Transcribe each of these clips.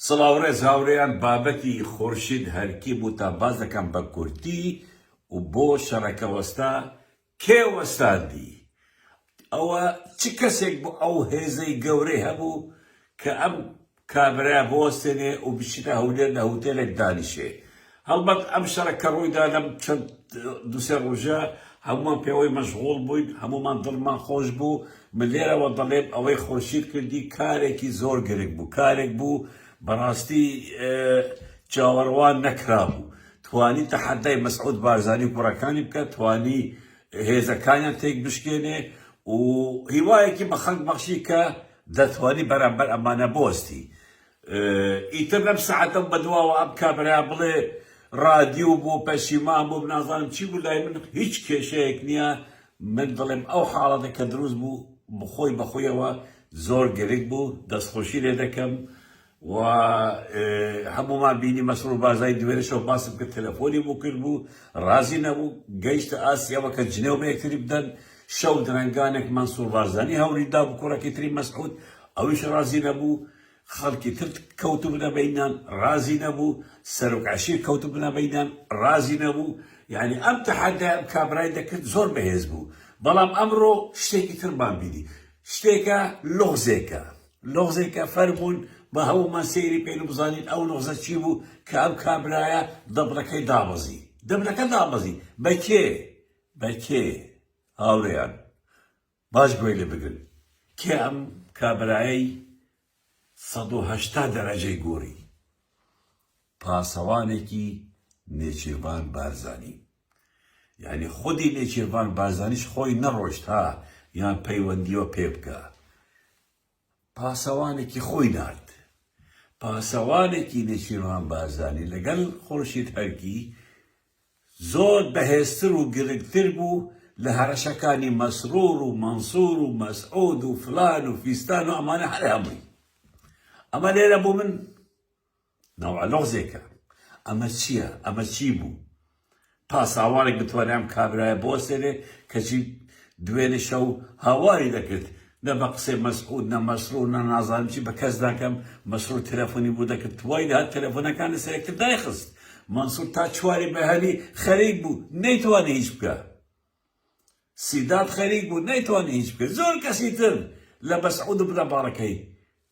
سڵاو ڕێز هاوڕێیان بابەتی خورشید هەرکی بوو تا باس دەکەم بە کورتی و بۆ شەڕەکە وەستا کێ وەستاندی ئەوە چ کەسێک بۆ ئەو هێزەی گەورەی هەبوو کە ئەم کابرایە بۆستێنێ و بچیتە هەولێر لە هوتێلێک دانیشێ هەڵبەت ئەم شەرە کە ڕوویدا لەم چەند دوو سێ ڕۆژە هەموومان پێوەی مەشغوڵ بووین، هەموومان دڵمان خۆش بوو، من لێرەوە دەڵێم ئەوەی خورشید کردی کارێکی زۆر گرنگ بوو، کارێک بوو بەڕاستی چاوەڕوان نەکرابوو، توانی تەحەدای مەسعود بارزانی و کوڕەکانی بکات، توانی هێزەکانیان تێکبشکێنێ و هیوایەکی بە خەڵک بەخشی کە دەتوانی بەرامبەر ئەمانە بوەستی. ئیتر لەم سەعاتەم بەدواوە ئەم کابرایە بڵێ ڕادیو بوو پەشیمان بووم نازانم چی بوو لای من هیچ کێشەیەک نییە من دڵێم ئەو حاڵەتە کە دروست بوو بخۆی بەخۆیەوە زۆر گرنگ بوو دەستخۆشی لێ دەکەم و هەمومان بینی مەسرور بارزای دوێنێشەوە باسم کرد تەلەفۆنی بۆ کرد بوو ڕازی نەبوو گەیشتە ئاستی ئەوە کە جنێو بە یەکتری بدەن شەو درەنگانێک مەنسور بارزانی هەوری دا بە کوڕەکەی تری مەسعود ئەویش ڕازی نەبوو خەڵکی تر کەوتبنە بەینیان ڕازی نەبوو، سەرۆک عەشیر کەوتبنە بەینیان ڕازی نەبوو، یانی ئەم تەحەدای ئەم کابرای دەکرد زۆر بەهێز بوو، بەڵام ئەمڕۆ شتێکی ترمان بینی، شتێکە لوغزێکە، لوغزێکە فەرموون با هەموومان سەیری بکەین و بزانین ئەو لوغزە چی بوو کە ئەم کابرایە دەبرەکەی دابەزی، دەبرەکە دابەزی بە کێ؟ بە کێ؟ هاوڕێیان! باش گوێ لێ بگرن کێ ئەم کابرایەی سەد و هەشتا دەرەجەی گۆری پاسەوانێکی نێچیرڤان بارزانی یانی خودی نێچیرڤان بارزانیش خۆی نەڕۆشت ها یان پەیوەندییەوە پێ بکا پاسەوانێکی خۆی نارد. پاسەوانێکی نێچیرڤان بارزانی لەگەڵ خورشید هەرکی زۆر بەهێزتر و گرنگتر بوو لە هەڕەشەکانی مەسرور و مەنسور و مەسعود و فلان و فیستان و ئەمانە هەر هەمووی. ئەمە لێرە بۆ من. ناوە لوغزێکە ئەمە چیە ئەمە چی بوو پاساوارێک بتوانێ ئەم کابرایە بوەستێنێ کەچی دوێنێ شەو هاواری دەکرد نە بە قسەی مەسعود نە مەسرور نە نازانم چی بە کەس ناکەم مەسرور تەلەفۆنی بۆ دەکرد توای لە هەر تەلەفۆنەکان لەسەر یەکتر دایخست مەنسور تا چواری بەهەلی خەریک بوو نەیتوانی هیچ بکە سیداد خەریک بوو نەیتوانی هیچ بکەی زۆر کەسی تر لە بەسعود و برا باڵەکەی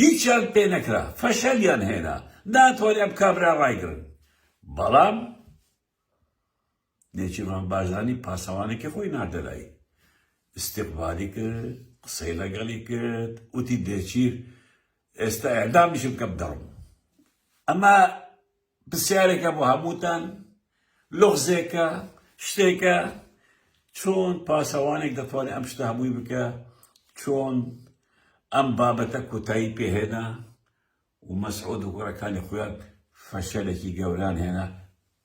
هیچیان پێ نەکرا فەشەلیان هێنا ناتوانی ئەم کابرا ڕایگرن بەڵام نێچیرڤان بارزانی پاسەوانەکە خۆی ناردە لای استقبالی کرد قسەی لەگەڵی کرد وتی دێچیر ئێستا ئەعدامیشم کەم دەڕم ئەمە پرسیارێکە بۆ هەمووتان، لوغزێکە، شتێکە، چۆن پاسەوانێک دەتوانێت ئەم شتە هەمووی بکە، چۆن ئەم بابەتە کۆتایی پێهێنا و مەسعود و کوڕەکانی خۆیان فەشەلێکی گەوران هێنا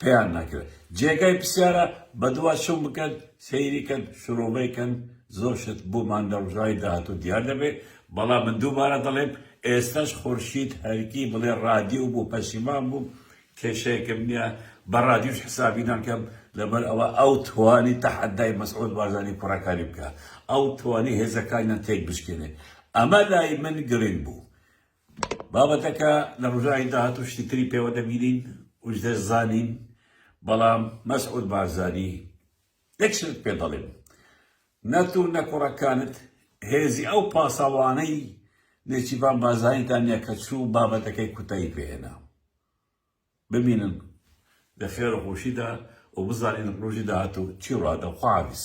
پێیان نەکرا، جێگای پرسیارە بەدوا چوون بکەن سەیری کەن شرۆڤەی کەن زۆر شت بۆمان لە ڕۆژانی داهاتوو دیار دەبێت بەڵام من دووبارە دەڵێم ئێستاش خورشید هەرکی بڵێ ڕادیو بوو پەشیمان بووم کێشەیەکم نیە بە ڕادیوش حسابی ناکەم لەبەر ئەوە ئەو توانی تەحەدای مەسعود بارزانی کوڕەکانی بکا ئەو توانی هێزەکانیان تێک بشکێنێ ئەمە لای من گرنگ بوو بابەتەکە لە ڕوژانی داهاتوو شتی تری پێوە دەبینین وش دەزانین بەڵام مەسعود بارزانی یەک شتت پێ دەڵێم، نە تۆ نە کوڕەکانت هێزی ئەو پاسەوانەی نێچیرڤان بارزانیتان نیە کە چوو و بابەتەکەی کوتایی پێ هێنا. ببینن لە خێر و خۆشیدا و بزانین ڕۆژی داهاتوو چی ڕووئەدا. خواحافیز.